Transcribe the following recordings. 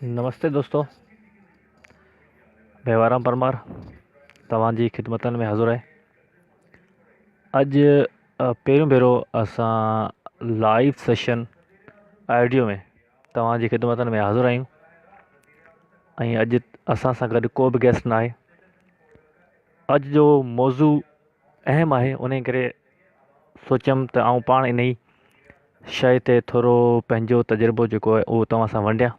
نمستي دوستو بيوارام پرمار توهان جي خدمتن ۾ حاضر آهي اڄ پهريون ڀيرو اسان لائيو سيشن آڊيو ۾ توهان جي خدمتن ۾ حاضر آهيون ۽ اڄ اسان سان گڏ ڪو به گيسٽ ناهي اڄ جو موضوع اهم آهي انهي ڪري سوچيم ته آئون پاڻ انهي شيء تي ٿورو پنهنجو تجربو جيڪو آهي اهو توهان سان ونڊيان.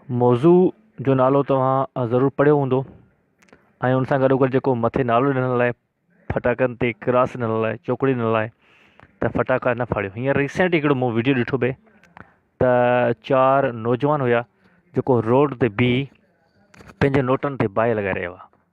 موضوع جو نالو توهان ضرور پڙهيو هوندو ۽ ان سان گڏوگڏ جيڪو مٿي نالو ڏنل آهي ڦٽاڪن تي ڪراس ڏنل آهي چوڪڙي ڏنل آهي ته ڦٽاڪا نه ڦاڙيو هينئر ريسينٽ هڪڙو مون وڊيو ڏٺو به ته چار نوجوان هيا جيڪو روڊ تي بيهي پنهنجي نوٽن تي باهه لڳائي رهيا هئا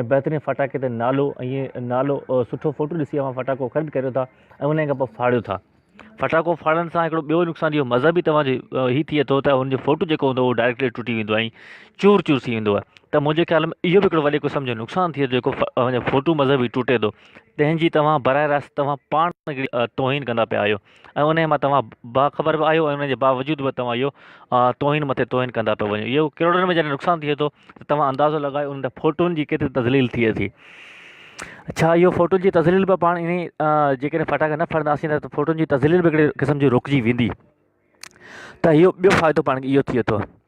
۽ بهترين ڦٽاڪي تي نالو ۽ نالو سٺو فوٽو ڏسي اوهان ڦٽاڪو خريد ڪريو ٿا ۽ انهي کان پوء ڦاڙيو ٿا ڦٽاڪو ڦاڙڻ سان هڪڙو ٻيو نقصان اهو مذهبي توهان جي هي ٿئي ٿو ته ان جو فوٽو جيڪو هوندو اهو ڊائريڪٽلي ٽٽي ويندو آهي ۽ چور چور ٿي ويندو آهي ته منهنجي خيال ۾ اهو به هڪڙو وڏي قسم جو نقصان ٿئي ٿو جيڪو اوهان جو فوٽو مذهبي ٽٽي ٿو تنهن جي توهان براه راست توهان پاڻ توهين ڪندا پيا آهيو ۽ انهيء مان توهان باخبر به آهيو ۽ ان جي باوجود به توهان اهو توهين مٿي توهين ڪندا پيا وڃو اهو ڪروڙن ۾ جڏهن نقصان ٿئي ٿو ته توهان اندازو لڳايو ان فوٽون جي ڪيتري تذليل ٿئي ٿي ڇا اهو فوٽون جي تذليل به پاڻ انهي جيڪڏهن ڦٽاڪا نه ڦڙنداسين ته فوٽون جي تذليل به هڪڙي قسم جي روڪجي ويندي ته اهو ٻيو فائدو پاڻ کي اهو ٿئي ٿو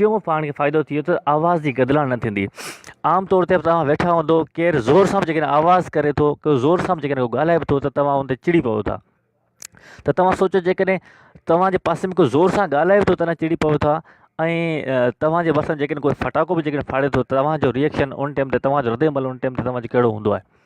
ٽيون پاڻ کي فائدو ٿيو ته آواز جي گدلاڻ نه ٿيندي عام طور تي توهان ويٺا هوندو ڪير زور سان به جيڪڏهن آواز ڪري ٿو ڪو زور سان به جيڪڏهن ڪو ڳالهائي به ٿو ته توهان ان تي چڙي پئو ٿا ته توهان سوچو جيڪڏهن توهان جي پاسي ۾ ڪو زور سان ڳالهائي به ٿو ته چڙي پئو ٿا ۽ توهان جي وس ۾ جيڪڏهن ڪو ڦٽاڪو به جيڪڏهن ڦاڙي ٿو توهان جو ريئڪشن ان ٽائيم تي توهان جو ردعمل ان ٽائيم تي توهان جو ڪهڙو هوندو آهي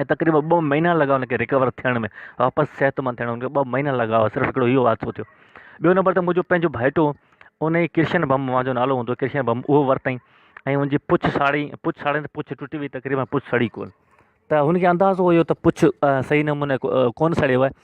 ۽ تقريبن ٻه مهينا لڳا ان کي رڪور ٿيڻ ۾ واپس صحتمند ٿيڻ ۾ ٻه مهينا لڳا هئا صرف هڪڙو اهو حادثو ٿيو ٻيو نمبر ته منهنجو پنهنجو ڀائيٽو ان جي ڪرشن بم اوهان جو نالو هوندو ڪرشن بم اهو ورتائين ۽ ان جي پڇ ساڙي پڇ ساڙين ته پڇ ٽٽي وئي تقريبن پڇ سڙي ڪون ته هن کي اندازو هيو ته پڇ صحيح نموني ڪون سڙيو آهي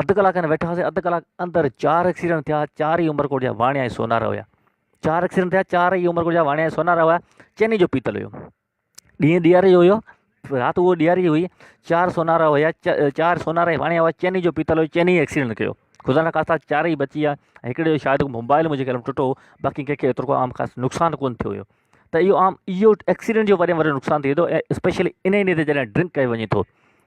اڌ ڪلاڪ کن ويٺاسي اڌ ڪلاڪ اندر چار ايڪسيڊنٽ ٿيا چار ئي عمرڪوٽ جا واڻيا ۽ سونارا هيا چار ايڪسيڊنٽ ٿيا چار ئي عمرڪوٽ جا واڻيا ۽ سونارا هيا چيني جو پيتل هيو ڏينهن ڏياري جو هيو رات اهو ڏياري جي هئي چار سونارا هيا چار سونارا ۽ واڻيا هيا چيني جو پيتل هيو چيني ايڪسيڊنٽ ڪيو خدا نا خاصا چار ئي بچي ويا ۽ هڪڙي جو شايد موبائل منهنجي ڪلم ٽٽو باقي ڪنهنکي ايترو عام خاص نقصان ڪو ٿيو هيو ته اهو عام اهو ايڪسيڊنٽ جو وڏي ۾ وڏو نقصان ٿئي ٿو اسپيشلي ان ڏينهن تي جڏهن ڊرنڪ ڪيو وڃي ٿو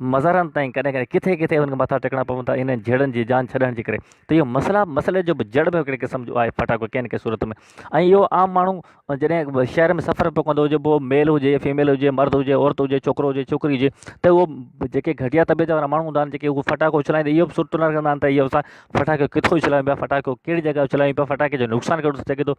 مزارن تائين ڪڏهن ڪڏهن ڪٿي ڪٿي انهن کي مٿا ٽيڪڻا پون ٿا انهن جهيڙن جي جان ڇڏڻ جي ڪري ته اهو مسئلا مسئلي جو به جڙ به هڪڙي قسم جو آهي ڦٽاڪو ڪنهن نه ڪنهن صورت ۾ ۽ اهو عام ماڻهو جڏهن شهر ۾ سفر پيو ڪندو هجي پوء ميل هجي فيميل هجي مرد هجي عورت هجي ڇوڪرو هجي ڇوڪري هجي ته اهو جيڪي گهٽيا طبيعت وارا ماڻهو هوندا آهن جيڪي اهو ڦٽاڪو اڇلائيندا اهو به سٺو نه رکندا آهن ته اهو اسان ڦٽاڪو ڪٿو اڇلايون پيا ڦٽاڪو ڪهڙي جڳهه اڇلايون پيا ڦٽاڪي جو نقصان ڪهڙو ٿي سگهي ٿو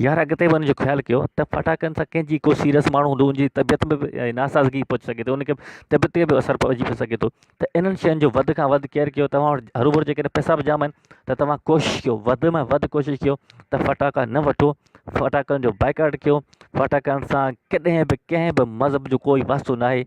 يار اڳتي به ان جو خيال ڪيو ته فٽاڪن سان ڪنهن جي ڪو سيريس ماڻهو هوندو ان جي طبيعت ۾ به ناسازگي پهچي سگهي ٿي ان کي طبيعت تي به اثر پئجي به سگهي ٿو ته انهن شين جو وڌ کان وڌ ڪيئر ڪيو توهان وٽ هرو ڀرو جيڪڏهن پئسا به جام آهن ته توهان ڪوشش ڪيو وڌ ۾ وڌ ڪوشش ڪيو ته فٽاڪا نه وٺو فٽاڪن جو بائڪاٽ ڪيو فٽاڪن سان ڪڏهن به ڪنهن به مذهب جو ڪوئي واسطو ناهي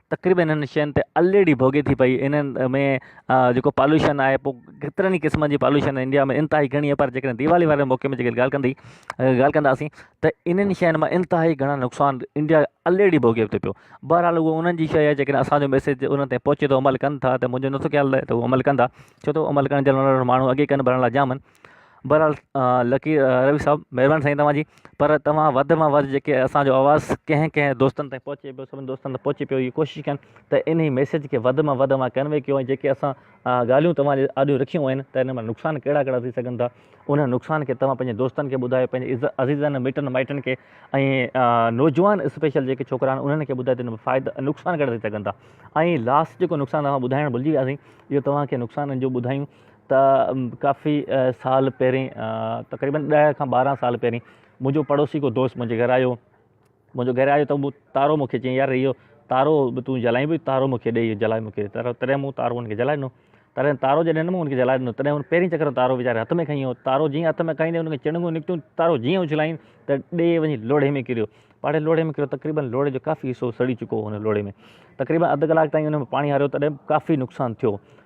تقريبن انهن شين تي الريڊي ڀوڳي ٿي پئي انهن ۾ جيڪو پالوشن آهي پو ڪيترن قسمن جي پالوشن انڊيا ۾ انتهائي گهڻي آهي پر جيڪڏهن ديوالي واري موقعي ۾ جيڪڏهن ڳالهه ڪندي ڳالهه ڪنداسين ته انهن شين مان انتهائي گهڻا نقصان انڊيا الريڊي ڀوڳي ٿي پيو بهرحال هو انهن جي شيء جيڪڏهن اسانجو ميسيج انهن تي پهچي ٿو عمل ڪن ٿا ته منهنجو نٿو خيال رهي ته هو عمل ڪندا ڇو ته عمل ڪرڻ جي لاء ماڻهو اڳي ڪن ڀرڻ لاء جام آهن بھرحال لڪي روي صاحب مھرباني سائين توھان جي پر توھان وڌ مان وڌ جيڪي اسانجو آواز ڪنھن ڪنھن دوستن تائين پھچي پيو سڀني دوستن تائين پھچي پيو اھي ڪوشش ڪن ته انھي ميسيج کي وڌ مان وڌ اوھان ڪنوي ڪيو ۽ جيڪي اسان ڳالھيون توھان جي آڏو رکيون آھن ته انھن مان نقصان ڪھڙا ڪھڙا ٿي سگھن ٿا انھن نقصان کي توھان پنھنجي دوستن کي ٻڌايو پنھنجي عزيزن مٽن مائٽن کي ۽ نوجوان اسپيشل جيڪي ڇوڪرا آھن انھن کي ٻڌايو ته انھن مان فائدا ۽ نقصان ڪھڙا ٿي سگھن ٿا ۽ لاسٽ جيڪو نقصان اوھان ٻڌائڻ بھلجي وياسين اھو توھان کي نقصانن جو ٻڌايون ته ڪافي سال پهرين تقريبن ڏهه کان ٻارهن سال پهرين منهنجو پڙوسي ڪو دوست منهنجي گهر آيو منهنجو گهر آيو ته مون تارو مون کي چيائين يار اهو تارو به تون جلائين به تارو مون کي ڏي جلائي مون کي تارو تڏهن مون تارو هن کي جلائي ڏنو تڏهن تارو جڏهن ڏنم هن کي جلائي ڏنو تڏهن هن پهرين چڪر تارو ويچاري هٿ ۾ کئي ويو تارو جيئن هٿ ۾ کائيندي هن کي چڻنگون نڪتيون تارو جيئن اڇلايائين ته ڏي وڃي لوڙهي ۾ ڪريو پاڙي لوڙهي ۾ ڪريو تقريبن لوڙهي جو ڪافي حصو سڙي چڪو هو هن لوڙهي ۾ تقريبن اڌ ڪلاڪ تائين هن ۾ پاڻي هاريو تڏهن ڪافي نقصان ٿيو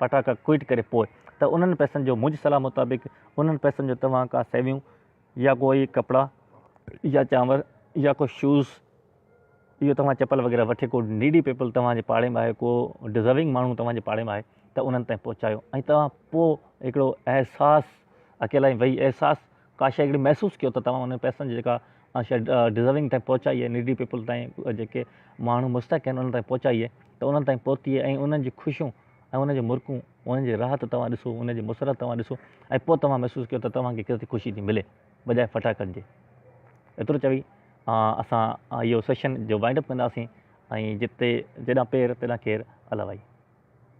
فٽاڪا ڪوئٽ ڪري پوء ته انهن پئسن جو منهنجي صلاح مطابق انهن پئسن جو توهان ڪا سيويون يا ڪو اهي ڪپڙا يا چانور يا ڪو شوز اهو توهان چپل وغيره وٺي ڪو نيڊي پيپل توهان جي پاڙي ۾ آهي ڪو ڊزرونگ ماڻهو توهان جي پاڙي ۾ آهي ته انهن تائين پهچايو ۽ توهان پوء هڪڙو احساس اڪيلائي وئي احساس ڪا شيء اهڙي محسوس ڪيو ته توهان انهن پئسن جي جيڪا شيء ڊزرونگ تائين پهچائي آهي، نيڊي پيپل تائين، جيڪي ماڻهو مستحق آهن انهن تائين پهچائي آهي ته انهن تائين پهتي آهي ۽ انهن جي خوشيون ۽ انهن جون مرڪون انهن جي راحت توهان ڏسو انهن جي مسرت توهان ڏسو ۽ پوء توهان محسوس ڪيو ته توهان کي ڪيتري خوشي ٿي ملي بجاء ڦٽاڪن جي. ايترو چوي اسان اهو سيشن جو وائنڊ اپ ڪنداسين ۽ جتي جيڏانهن پير تيڏانهن ڪير الائي.